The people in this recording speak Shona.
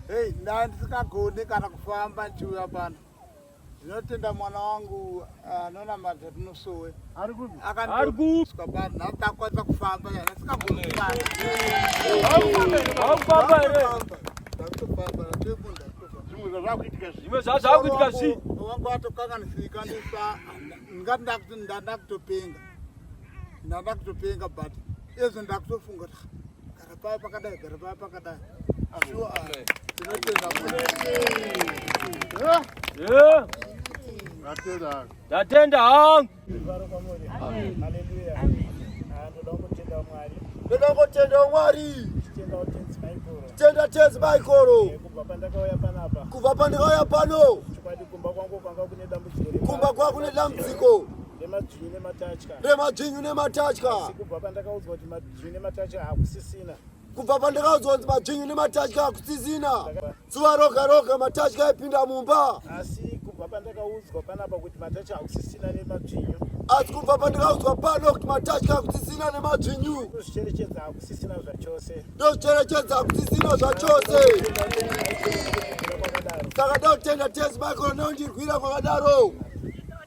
Hey, ndandisingagone kana kufamba ndichiuya pano ndinotenda mwana wangu anonamata tinosowe akandiuska pano ndandakwanisa kufamba ndandisingagone kufamba zvimwe zvazvakuitika zvi wangu atokanganisika ndisa ndingati ndakuti ndanda kutopenga ndanda kutopenga but ezvo ndakutofunga gara paya pakadai gara paya pakadai shuwa tinotenda tatenda hangu ndoda kutenda mwari tenda tenzi maikoro kubva pandakauya pano kumba kwa kune dambudziko remadzvinyu nematya Zvine matacha hakusisina. Kubva pandakaudzwa kuti majinyu nematatya hakusisina. Zuva roga roga matatya aipinda mumba. Asi kubva pandakaudzwa panapa kuti matacha hakusisina nemadzvinyu. Asi kubva pandakaudzwa pano kuti matatya hakusisina nemadzvinyu. Ndozvicherechedza hakusisina zvachose. Ndozvicherechedza hakusisina zvachose. Saka ndotenda Tezi Michael neundirwira kwakadaro.